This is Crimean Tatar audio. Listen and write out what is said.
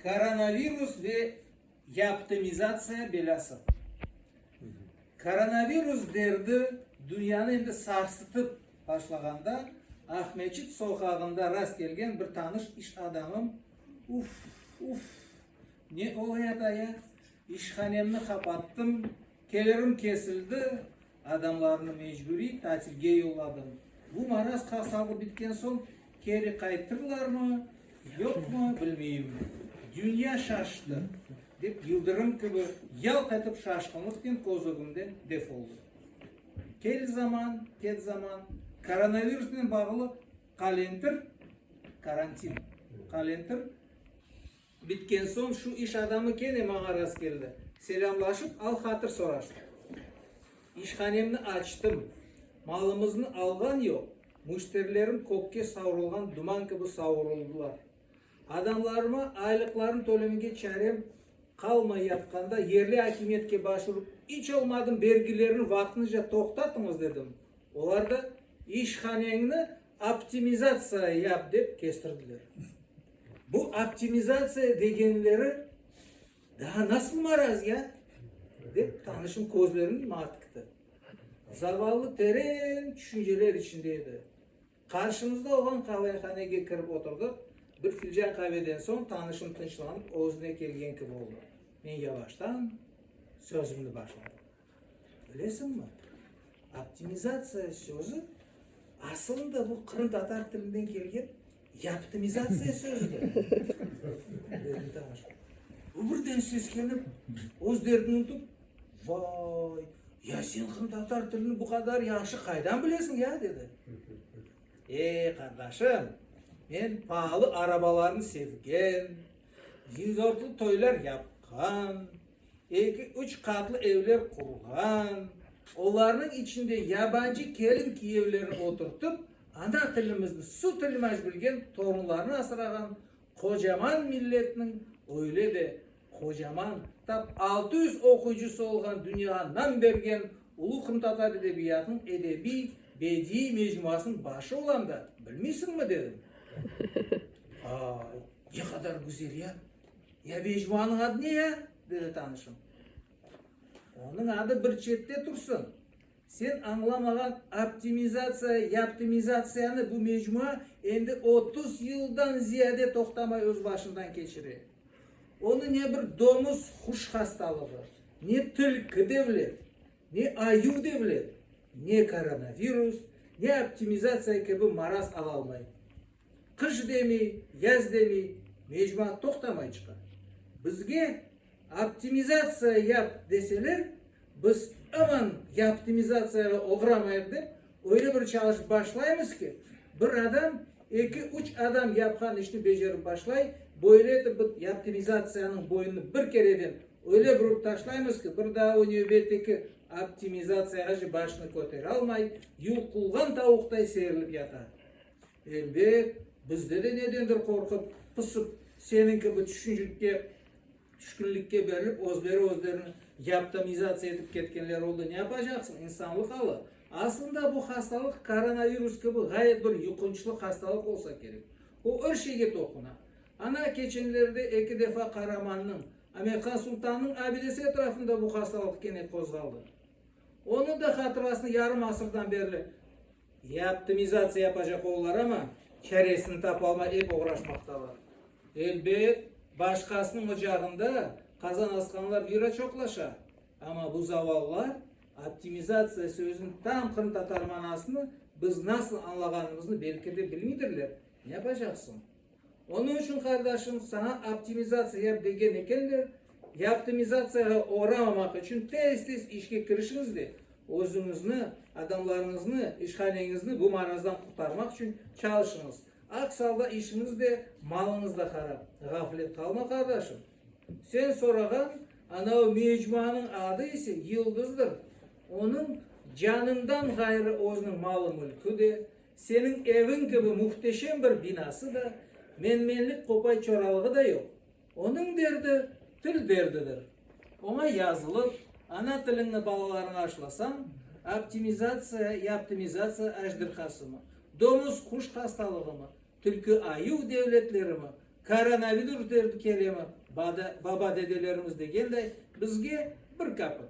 Koronavirus ve yaptimizatsiya belâsı. Koronavirus derdi dünyanı endi sarsıtıp başlağanda, Aqmescit soqağında rast kelgen bir tanış iş adamım, Uf, uf, ne olayat-ay-a? İşhanemni qapattım, kelirim kesildi, adamlarnı mecburiy tatilge yolladım. Bu maraz qasalı bitken soñ keri qaytırlarmı, yoqmı, bilmeyim. Dünya şaştı, dep yıldırım kibi yalq etip şaşqınlıqnen köz ögümden def oldı. Kel zaman, ket zaman, koronavirusnen bağlı qalentir, karantin, qalentir, Bitken soñ şu iş adamı kene maña rastkeldi. Selâmlaşıp, al-hatır soraştıq. İşhanemni açtım. Malımıznı alğan yoq, müşterilerim kökke savrulğan duman kibi savuruldılar. Adamlarıma aylıqlarını tölemege çarem qalmay yatqanda, yerli akimiyetke başurıp, iç olmadım bergilerni vaqtınca toqtatıñız dedim. Olar da, İşhaneñni Optimizatsiya yap, dep kestirdiler. Bu optimizatsiya degenleri daa nasıl maraz ya? dep tanışım közlerini maña tikti. Zavallı teren tüşünceler içinde edi. Qarşımızda olğan qavayhanege kirip oturdıq. Bir filcan qaveden soñ tanışım tınçlanıp, özüne kelgen kibi oldı. Men yavaştan sözümni başladım. Bilesiñmi, optimizatsiya sözü asılında bu qırımtatar tilinden kelgen yaptimizatsiya sözüdir. Bu birden seskenip, öz derdini untıp, vay, ya sen qırımtatar tilini bu qadar yahşı qaydan bilesiñ ya, dedi. Ey, qardaşım, men paalı arabalarnı sevgen, dinzortlı toylar yapqan, Eki-üç qatlı evler qurğan, olarnıñ içinde yabancı kelin-kiyevlerni oturtıp, ana tilimizni su tilmaj bilgen torunlarnı asrağan qocaman milletniñ öyle de qocaman, tap altı yüz oquyıcısı olğan dünyağa nam bergen ulu qırımtatar edebiyatınıñ edebiy, bediiy mecmuasınıñ başı olam da, bilmiysiñmi? dedim. Vay, ne qadar güzel ya! Ya Vecvanıñ adı ne ya? dedi tanışım. Onıñ adı bir çette tursın. Sen añlamağan optimizatsiya yaptimizatsiyanı bu mecmua endi otuz yıldan ziyade toqtamay öz başından keçire. Onı ne bir domuz huş hastalığı, ne tilki devlet, ne ayuv devlet, ne koronavirus, ne optimizatsiya kibi maraz alalmay. Qış demi, yaz demi, mecmua toqtamay çıqa. Bizge optimizatsiya yap deseler, biz aman yaptimizatsiyağa oğramayıq dep, öyle bir çalışıp başlaymız ki, bir adam, eki, üç adam yapqan işni becerip başlay, böyle etip bıt yaptimizatsiyanıñ boynunu bir kereden öyle burıp taşlaymız ki, bir daa o nevbetteki optimizatsiyağa başını köteralmay, yuqulğan tavuqtay serilip yata. Elbet, bizde de nedendir qorqıp, pısıp, seniñ kibi tüşünçlikte, tüşkünlikke berilip, özleri-özlerini yaptanizatsiya etip ketkenler oldı. Ne yapacaqsıñ, insanlıq alı. Aslında bu hastalıq koronavirus kibi ğayet bir yuqunçlı hastalıq olsa kerek. O er şeyge toquna. Ana, keçenlerde eki defa Qaramannıñ, Amirhan Sultannıñ abidesi etrafında bu hastalıq kene qozğaldı. Onıñ da hatırasını yarım asırdan berli Ya optimizatsiya yapacaq ollar, amma çaresini tapalmay ep oğraşmaqtalar. Elbet, başqasınıñ ocağında qazan asqanlar bira çoqlaşa, amma bu zavallılar optimizatsiya sözüniñ tam qırımtatar manasını biz nasıl añlağanımıznı belki de bilmiydirler. Ne yapacaqsıñ? Onıñ içün, qardaşım, saña optimizatsiya yap degen ekenler, yaptimizatsiyağa oğramamaq içün tez-tez işke kirişiñiz de, özüñizni, adamlarıñıznı, işhaneñizni bu marazdan qurtarmaq içün çalışıñız. Aks alda işiñiz de, malıñız da harap. Ğaflet qalma, qardaşım. Sen sorağan anau mecmuanıñ adı ise Yıldızdır. Onıñ canından ğayrı özüniñ malı-mülkü de, Seniñ eviñ kibi muhteşem bir binası da, menmenlik qopay çoralığı da yoq. Onıñ derdi, til derdidir. Oña yazılıp, ana tiliñni balalarıña aşlasañ, optimizatsiya ya optimizatsiya ajdirhasımı, domuz-quş hastalığımı, tülkü-ayuv devletlerimi, koronavirus derdi kelemi, baba-dedelerimiz degenday, bizge bir kapıt,